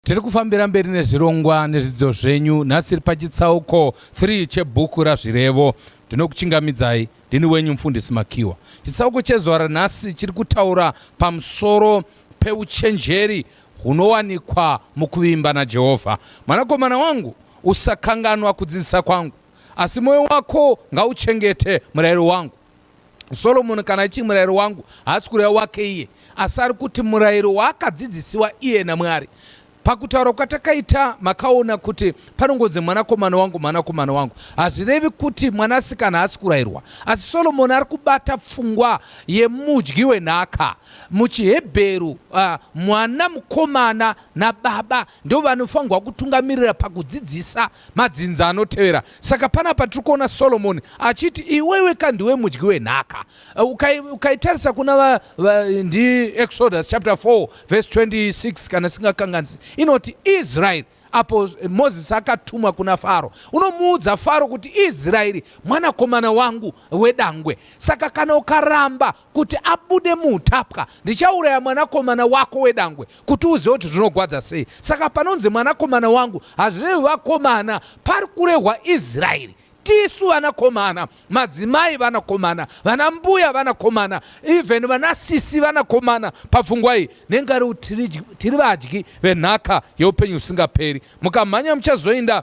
Tiri kufambira mberi nezvirongwa nezvidzidzo zvenyu nhasi tiri pachitsauko 3 chebhuku raZvirevo. Ndinokuchingamidzai ndini wenyu mufundisi Makiwa. Chitsauko chezuva ranhasi chiri kutaura pamusoro peuchenjeri hunowanikwa mukuvimba naJehovha. Mwanakomana wangu, usakanganwa kudzidzisa kwangu, asi mwoyo wako ngauchengete murayiro wangu. Solomoni kana achii murayiro wangu haasi kureva wake iye asi ari kuti murayiro waakadzidzisiwa iye naMwari. Pakutaura kwatakaita makaona kuti panongonzi mwanakomana wangu mwanakomana wangu hazvirevi kuti mwanasikana haasi kurayirwa asi Solomoni ari kubata pfungwa yemudyi wenhaka. MuchiHebheru uh, mwana mukomana nababa ndovanofanirwa kutungamirira pakudzidzisa Madzinza anotevera. Saka panapa tiri kuona Solomoni achiti iwewe ka ndiwe mudyi wenhaka. Uh, ukaitarisa kuna va, va, ndi Exodus chapter 4 verse 26 kana singakanganisi inoti Israeri apo Mozisi akatumwa kuna Faro, unomuudza Faro kuti Israeri mwanakomana wangu wedangwe. Saka kana ukaramba kuti abude muutapwa ndichauraya mwanakomana wako wedangwe kuti uzive kuti zvinogwadza sei saka panonzi mwanakomana wangu hazvirevi vakomana pari kurehwa israeri tisu vanakomana madzimai vanakomana vana mbuya vanakomana even vana sisi vanakomana pabvungwa iyi nengari tiri vadyi venhaka yeupenyu husingaperi mukamhanya muchazoinda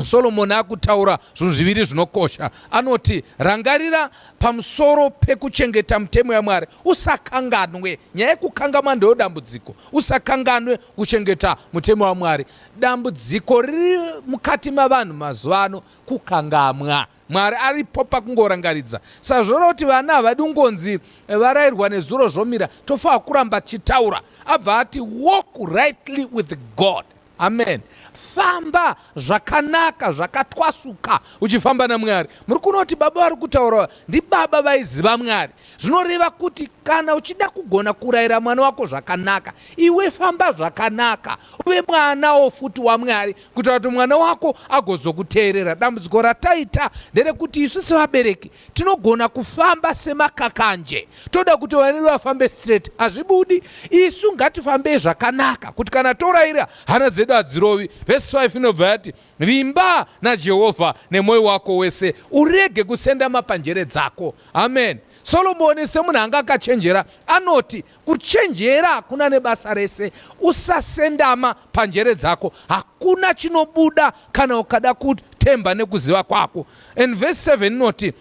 Soromoni akutaura zvinhu zviviri zvinokosha. Anoti, rangarira pamusoro pekuchengeta mutemo yaMwari, usakanganwe. Nyaya yekukangamwa ndiyo dambudziko. Usakanganwe kuchengeta mutemo waMwari. Dambudziko riri mukati mavanhu mazuva ano kukangamwa. Mwari aripo pakungorangaridza. Sazvona kuti vana havadi kungonzi eh, varairwa nezuro zvomira, tofanira kuramba tichitaura. Abva ati walk rightly with God. Amen. Famba zvakanaka zvakatwasuka uchifamba naMwari. Muri kuona kuti baba vari kutaura ndibaba vaiziva Mwari. Zvinoreva kuti kana uchida kugona kurayira mwana wako zvakanaka, iwe famba zvakanaka, uve mwanawo futi waMwari, kuitira kuti mwana wako agozokuteerera. Dambudziko rataita nderekuti isu sevabereki tinogona kufamba semakakanje toda kuti vanene vafambe straight hazvibudi isu ngatifambei zvakanaka kuti kana toraira hana dzedu hadzirovi vhesi 5 inobva yati vimba najehovha nemwoyo wako wese urege kusenda mapanjere dzako amen solomoni semunhu anga akachenjera anoti Kuchenjera hakuna nebasa rese. Usasendama panjere dzako. Hakuna chinobuda kana ukada kutemba nekuziva kwako. And verse 7 inoti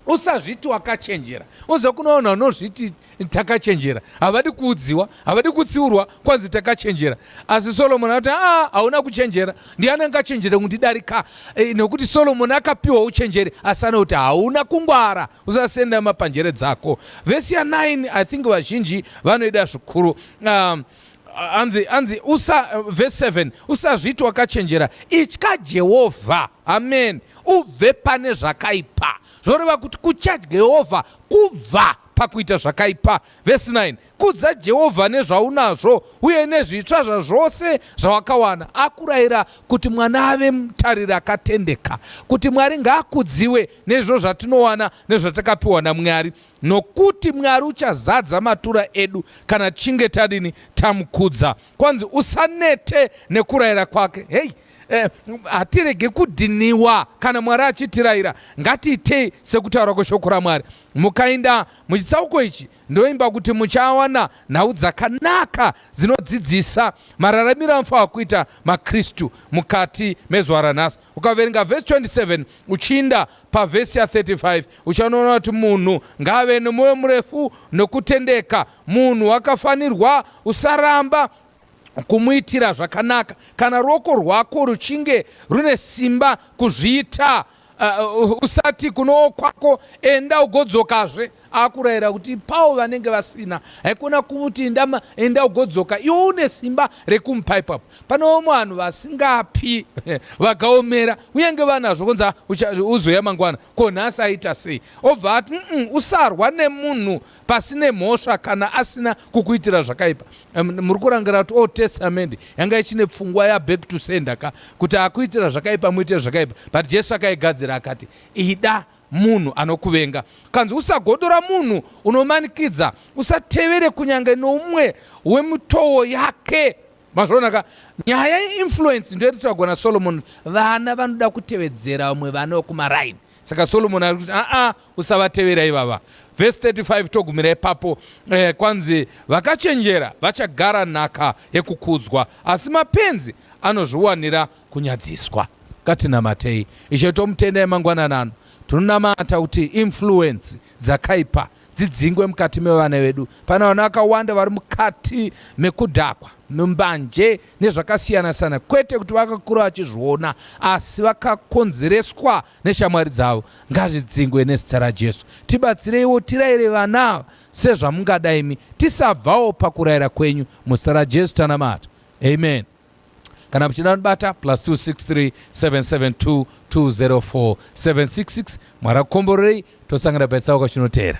usazviti wakachenjera uza kunoona unozviti takachenjera havadi kuudziwa havadi kutsiurwa kwanzi takachenjera asi solomoni akuti aa ah, hauna kuchenjera ndiani angachenjera kundidarika e, eh, nekuti solomoni akapiwa uchenjeri asi anokuti hauna kungwara usasenda mapanjere dzako vhesi ya 9 i think vazhinji vanoida zvikuru um, anzi anzi usa verse 7 usazviti wakachenjera itya jehovha amen ubve pane zvakaipa zvoreva kuti kutya jehovha kubva pakuita zvakaipa verse 9 Kudza Jehovha nezvaunazvo uye nezvitsva zvazvose zvawakawana. Akurayira kuti mwana ave mutariri akatendeka. Kuti Mwari ngaakudziwe nezvo zvatinowana nezvatakapiwa naMwari, nokuti Mwari uchazadza matura edu kana tichinge tadini tamukudza. Kwanzi usanete nekurayira kwake. Hei, eh, hatirege kudhiniwa kana Mwari achitirayira. Ngatiitei sekutaura kweshoko raMwari. Mukainda muchitsauko ichi Ndoimba kuti muchawana nhau dzakanaka dzinodzidzisa mararamiro anofanira kuita maKristu mukati mezuva ranhasi. Ukaverenga vhesi 27 uchiinda pavhesi ya 35 uchanoona kuti munhu ngaave nemwoyo murefu nokutendeka. Munhu wakafanirwa usaramba kumuitira zvakanaka kana ruoko rwako ruchinge rune simba kuzviita. Uh, usati kuno kwako enda ugodzokazve akurayira kuti pawo vanenge vasina haikona kuti ndama enda ugodzoka iwo une simba rekumupa ipapo panowo vanhu vasingapi vakaomera uyange vanazvo kunzi uzoya mangwana ko nhasi aita sei obva ati usarwa nemunhu pasine mhosva kana asina kukuitira zvakaipa muri kurangira kuti old testament yanga ichine pfungwa yaback to sender ka kuti akuitira zvakaipa muite zvakaipa but jesu akaigadzira akati ida munhu anokuvenga kanzi usagodora munhu unomanikidza usatevere kunyange noumwe wemitowo yake mazvonaka nyaya yeinfluence ndoyatitagona solomon vana vanoda kutevedzera vamwe vana vekumaraini saka solomoni ari kuti aa usavatevera ivava vhesi 35 togumira ipapo eh, kwanzi vakachenjera vachagara nhaka yekukudzwa asi mapenzi anozviwanira kunyadziswa katinamatei ishe tomutenda emangwanana ano tinonamata kuti influensi dzakaipa dzidzingwe mukati mevana vedu pana vana vakawanda vari mukati mekudhakwa mumbanje nezvakasiyana siyana kwete kuti vakakura vachizviona asi vakakonzereswa neshamwari dzavo ngazvidzingwe nezita rajesu tibatsireiwo tiraire vana ava sezvamungada imi tisabvawo pakuraira kwenyu muzita rajesu tanamata amen kana muchida nibata plus 263 772 204 766 mwari akukomborerei tosangana paitsauka chinoteera